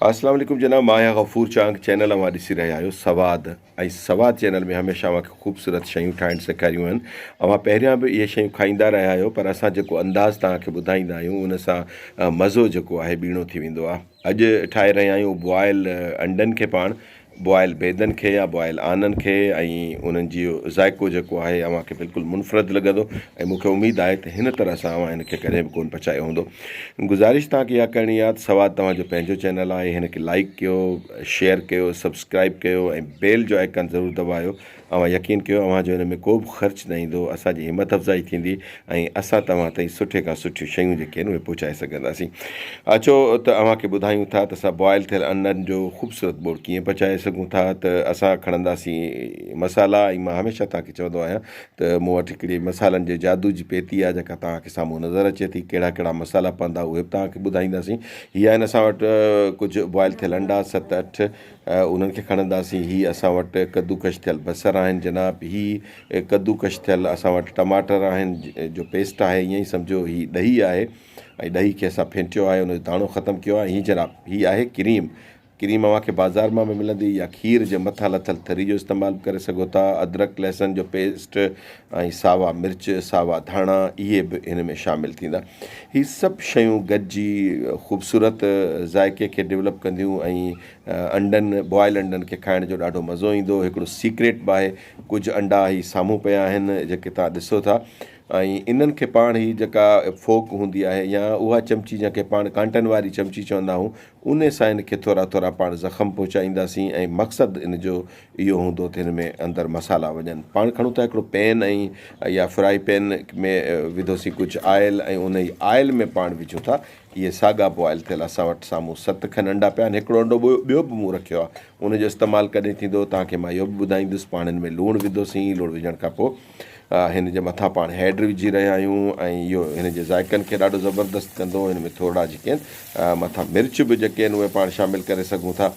اسلام عليڪم جناب ماهيا غفور چانگ چينل اوهان ڏسي رهيا آهيو سواد ۽ سواد چينل ۾ هميشه اوهان کي خوبصورت شيون ٺاهڻ سيکاريون آهن اوهان پهريان به اهي شيون کائيندا رهيا آهيو پر اسان جيڪو انداز توهان کي ٻڌائيندا آهيون ان سان مزو جيڪو آهي ٻيڻو ٿي ويندو آهي اڄ ٺاهي رهيا آهيون بوائل انڊن کي پاڻ بوائل بيدن کي يا بوائل آنن کي ۽ انهن جي ذائقو جيڪو آهي اوهان کي بلڪل منفرد لڳندو ۽ مونکي اميد آهي ته هن طرح سان اوهان هن کي ڪڏهن به ڪون پچايو هوندو گذارش توهان کي اها ڪرڻي آهي ته سواد توهان جو پنهنجو چينل آهي هن کي لائيڪ ڪيو شيئر ڪيو سبسڪرائيب ڪيو ۽ بيل جو آئيڪان ضرور دٻايو اوهان يقين ڪيو اوهان جو ان ۾ ڪو به خرچ نه ايندو، اسان جي همت افزائي ٿيندي ۽ اسان توهان تائين سٺي کان سٺيون شيون جيڪي آهن اهي پهچائي سگهنداسين. اچو ته اوهان کي ٻڌايون ٿا ته اسان بوائل ٿيل انڊن جو خوبصورت ٻوڙ ڪيئن پچائي سگهون ٿا ته اسان کڻنداسين مصالحا ۽ مان هميشه توهان کي چوندو آهيان ته مون وٽ هڪڙي مصالحن جي جادو جي پيتي آهي جيڪا توهان کي سامهون نظر اچي ٿي ڪهڙا ڪهڙا مصالحا پوندا اهي به توهان کي ٻڌائينداسين هي آهن اسان وٽ ڪجهه بوائل ٿيل انڊا ست اٺ انهن کي کڻنداسين. هي اسان وٽ ڪدوڪش ٿيل بصر آهن جناب. هي ڪدوڪش ٿيل اسان وٽ ٽماٽر آهن جو پيسٽ آهي. ائين ئي سمجهو هي ڏهي آهي ۽ ڏهي کي اسان ڦينٽيو آهي ان جو داڻو ختم ڪيو آهي. هي جناب هي آهي ڪريم. ڪريم اوهان کي بازار مان به ملندي يا کير جي مٿان لٿل ٿري جو استعمال به ڪري سگهو ٿا. ادرڪ لهسن جو پيسٽ ۽ ساوا مرچ ساوا ڌاڻا اهي به هن ۾ شامل ٿيندا. هي سڀ شيون گڏجي خوبصورت ذائقي کي ڊولپ ڪنديون ۽ انڊن، بوائل انڊن کي کائڻ جو ڏاڍو مزو ايندو. هڪڙو سيڪريٽ به آهي. ڪجهه انڊا هي سامهون پيا آهن جيڪي توهان ڏسو ٿا ۽ انهن کي پاڻ هي جيڪا فوڪ هوندي آهي يا اها چمچي جنهن کي پاڻ ڪانٽن واري چمچي چوندا آهون ان سان هن کي ٿورا ٿورا پاڻ زخم پهچائينداسين ۽ مقصد ان جو اهو هوندو ته هن ۾ اندر مصالحا وڃن. پاڻ کڻون ٿا هڪڙو پين ۽ يا فرائي پين ۾ وڌوسين ڪجهه آئل ۽ انهي آئل ۾ پاڻ وجهون ٿا اهي ساڳا بوائل ٿيل اسان وٽ سامهون ست کن انڊا پيا آهن. هڪڙو انڊو ٻيو به مون رکيو آهي. ان جو استعمال ڪڏهن ٿيندو، توهان کي مان اهو به ٻڌائيندس. پاڻين ۾ لوڻ وڌوسين. لوڻ وجهڻ کان پوء هن جي مٿان پاڻ هيڊ وجهي رهيا آهيون ۽ اهو هن جي ذائقن کي ڏاڍو زبردست ڪندو. هن ۾ ٿورڙا جيڪي آهن مٿان مرچ به جيڪي آهن اهي پاڻ شامل ڪري سگهون ٿا.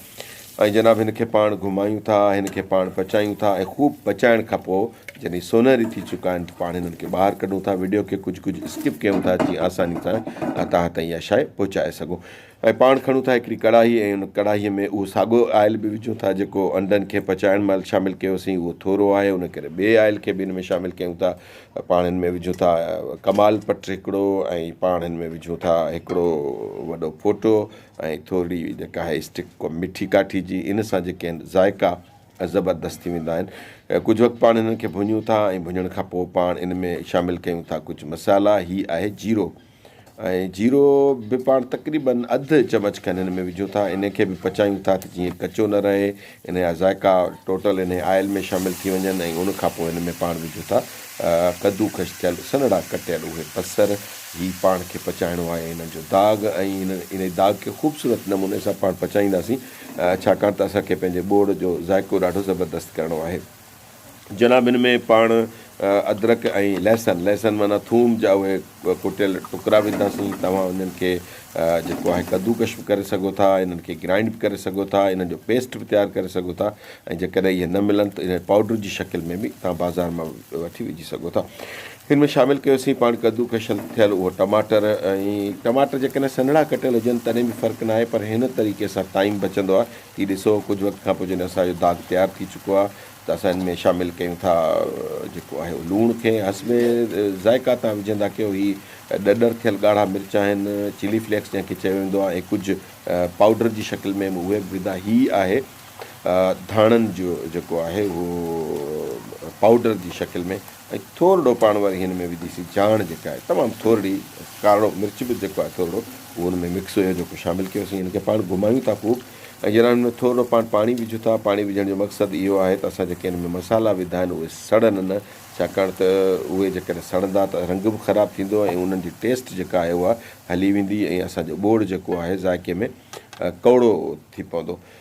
۽ جناب هن کي پاڻ گهمايون ٿا، هن کي پاڻ پچايون ٿا ۽ خوب پچائڻ کان پوء جڏهن هي سونهري ٿي چڪا آهن ته پاڻ هنن کي ٻاهر ڪڍون ٿا، وڊيو کي ڪجهه ڪجهه اسڪپ ڪيون ٿا جيئن آساني سان توهان تائين اها شاي پهچائي سگهون ۽ پاڻ کڻون ٿا هڪڙي ڪڙاهي ۽ ان ڪڙاهي ۾ اهو ساڳو آئل به وجهون ٿا جيڪو انڊن کي پچائڻ مهل شامل ڪيو سين اهو ٿورو آهي ان ڪري ٻئي آئل کي به ان ۾ شامل ڪيون ٿا پاڻ هن ۾ وجهون ٿا ڪمال پٽ هڪڙو ۽ پاڻ هن ۾ وجهون ٿا هڪڙو وڏو ڦوٽو ۽ ٿورڙي جيڪا آهي اسٽڪ ڪو مٺي ڪاٺي جي ان سان جيڪي آهن ذائقا زبردست ٿي ويندا آهن ڪجهه وقت پاڻ انهن کي ڀڃون ٿا ۽ ڀڃڻ کان پوء پاڻ ان ۾ شامل ڪيون ٿا ڪجهه مصالحا هي آهي جيرو ۽ جيرو به پاڻ تقريبن اڌ چمچ کن هن ۾ وجهون ٿا ان کي به پچايون ٿا ته جيئن ڪچو نه رهي ان جا ذائقا ٽوٽل انهي آئل ۾ شامل ٿي وڃن ۽ ان کان پوء ان ۾ پاڻ وجهو ٿا ڪدوڪش ٿيل سنهڙا ڪٽيل اهي بصر هي پاڻ کي پچائڻو آهي انهن جو داغ ۽ انهي داغ کي خوبصورت نموني سان پاڻ پچائينداسين ڇاڪاڻ ته اسان کي پنهنجي ٻوڙ جو ذائقو ڏاڍو زبردست ڪرڻو آهي. جناب ان ۾ پاڻ ادرڪ ۽ لهسن، لهسن معنيٰ ٿوم، جا اهي ڪٽيل ٽڪرا وڌنداسين، توهان انهن کي جيڪو آهي ڪدوڪش به ڪري سگهو ٿا، انهن کي گرائنڊ به ڪري سگهو ٿا، انهن جو پيسٽ به تيار ڪري سگهو ٿا ۽ جيڪڏهن اهي نه ملن ته انهن پائوڊر جي شڪل ۾ به توهان بازار مان وٺي وجهي سگهو ٿا. ان ۾ شامل ڪيوسين پاڻ ڪدوڪش ٿيل اهو ٽماٽر ۽ ٽماٽر جيڪڏهن سنهڙا ڪٽيل هجن تڏهن به فرق ناهي پر هن طريقي سان ٽائيم بچندو آهي. ٿي ڏسو ڪجهه وقت کان پوء جڏهن اسان جو داغ تيار ٿي چڪو آهي ته اسان ان ۾ شامل ڪيون ٿا جيڪو آهي اهو لوڻ کين حسب ذائقا تان وجهندا ڪيو هي ڏڏر ٿيل ڳاڙها مرچ آهن چلي فليڪس جنهن کي چيو ويندو آهي ۽ ڪجهه پائوڊر جي شڪل ۾ به اهي به ودا هي آهي ڌاڻن جو جيڪو آهي اهو پائوڊر جي شڪل ۾ ۽ ٿورڙو پاڻ وري هن ۾ وجهي سي جاڻ جيڪا آهي تمام ٿورڙي ڪارڙو مرچ به جيڪو آهي ٿورڙو اهو ان ۾ مڪس هيو جيڪو شامل ڪيو سين هن کي پاڻ گهمايون ٿا خوب ۽ جڏهن هن ۾ ٿورڙو پاڻ پاڻي وجهون ٿا پاڻي وجهڻ جو مقصد اهو آهي ته اسان جيڪي هن ۾ مصالحا وڌا آهن اهي سڙن نه ڇاڪاڻ ته اهي جيڪڏهن سڙندا ته رنگ به خراب ٿيندو ۽ انهن جي ٽيسٽ جيڪا آهي اها هلي ويندي ۽ اسان جو ٻوڙ جيڪو آهي ذائقي ۾ ڪؤڙو ٿي پوندو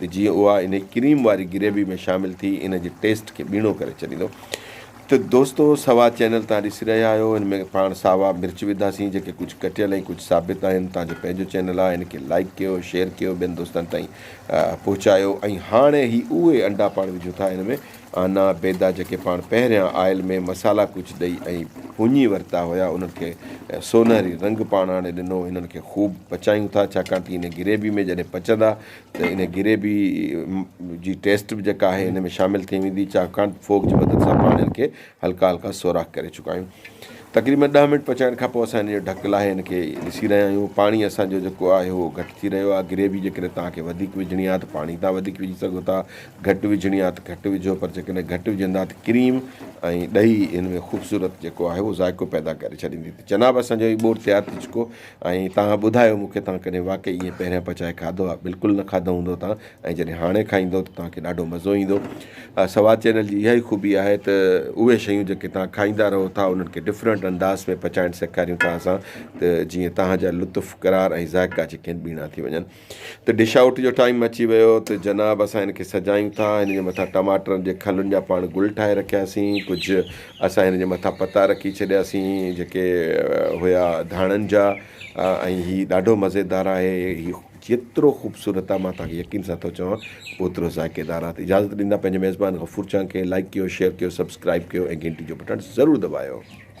ته جيئن اها انهي ڪريم واري گريوي ۾ شامل ٿي ان جي ٽيسٽ کي ٻيڻو ڪري ڇڏيندو ته دوستو سوا چينل تان ڏسي رهيا آهيو ان ۾ پاڻ ساوا مرچ وڌاسين جيڪي ڪجهه ڪٽيل ۽ ڪجهه ثابت آهن تان جو پنهنجو چينل آهي ان کي لائيڪ ڪيو شيئر ڪيو ٻين دوستن تائين پهچايو ۽ هاڻي هي اهي انڊا پاڻ وجهون ٿا ان ۾ آنا بيدا جيڪي پاڻ پهريان آئل ۾ مصالحا ڪجهه ڏئي ۽ ڀڃي ورتا هيا انهن کي سونهري رنگ پاڻ آڻي ڏنو هنن کي خوب پچايون ٿا ڇاڪاڻ ته انهي گريوي ۾ جڏهن پچندا ته ان گري به جي ٽيسٽ به جيڪا آهي ان ۾ شامل ٿي ويندي ڇاڪاڻ فوڪ جي مدد سان پاڻين کي هلڪا هلڪا سوراخ ڪري چڪا آهيون تقريبن ڏهه منٽ پچائڻ کان پوء اسان ان جو ڍڪ لاهي ان کي ڏسي رهيا آهيون پاڻي اسان جو جيڪو آهي اهو گهٽ ٿي رهيو آهي گري به جيڪڏهن توهان کي وڌيڪ وجهڻي آهي ته پاڻي تان وڌيڪ وجهي سگهو ٿا گهٽ وجهڻي آهي ته گهٽ وجهو پر جيڪڏهن گهٽ وجهندا ته ڪريم ۽ ڏهي ان ۾ خوبصورت جيڪو آهي اهو ذائقو پيدا ڪري ڇڏيندي ته جناب اسان جو هي ٻوٽ تيار ٿي چڪو ۽ توهان ٻڌايو مون کي توهان ڪڏهن واقعي ائين پهريان پچائي کاڌو آهي بلڪل نه کاڌو هوندو توهان ۽ جڏهن هاڻي کائيندو ته توهان کي ڏاڍو مزو ايندو سوات چينل جي اها ئي خوبي آهي ته اهي شيون جيڪي توهان کائيندا رهو ٿا انهن کي ڊفرنٽ انداز ۾ پچائڻ سيکاريون ٿا اسان ته جيئن توهان جا لطف قرار ۽ ذائقا جيڪي آهن ٻيڻا ٿي وڃن ته ڊش آئوٽ جو ٽائيم اچي ويو ته جناب اسان هن کي سجايون ٿا هن جي مٿان ٽماٽرن جي کلن جا پاڻ گل ٺاهي رکياسين ڪجهه اسان هن جي مٿان پتا رکي ڇڏياسين جيڪي هيا ڌاڻن جا ۽ هي ڏاڍو مزيدار آهي هي جيترو خوبصورت آهي مان توهان کي يقين سان ٿو چوان اوترو ذائقيدار آهي اجازت ڏيندا پنهنجي ميزبان غفور چانڪ کي لائڪ ڪيو شيئر ڪيو سبسڪرائب ڪيو ۽ گهنٽي جو بٽڻ ضرور دٻايو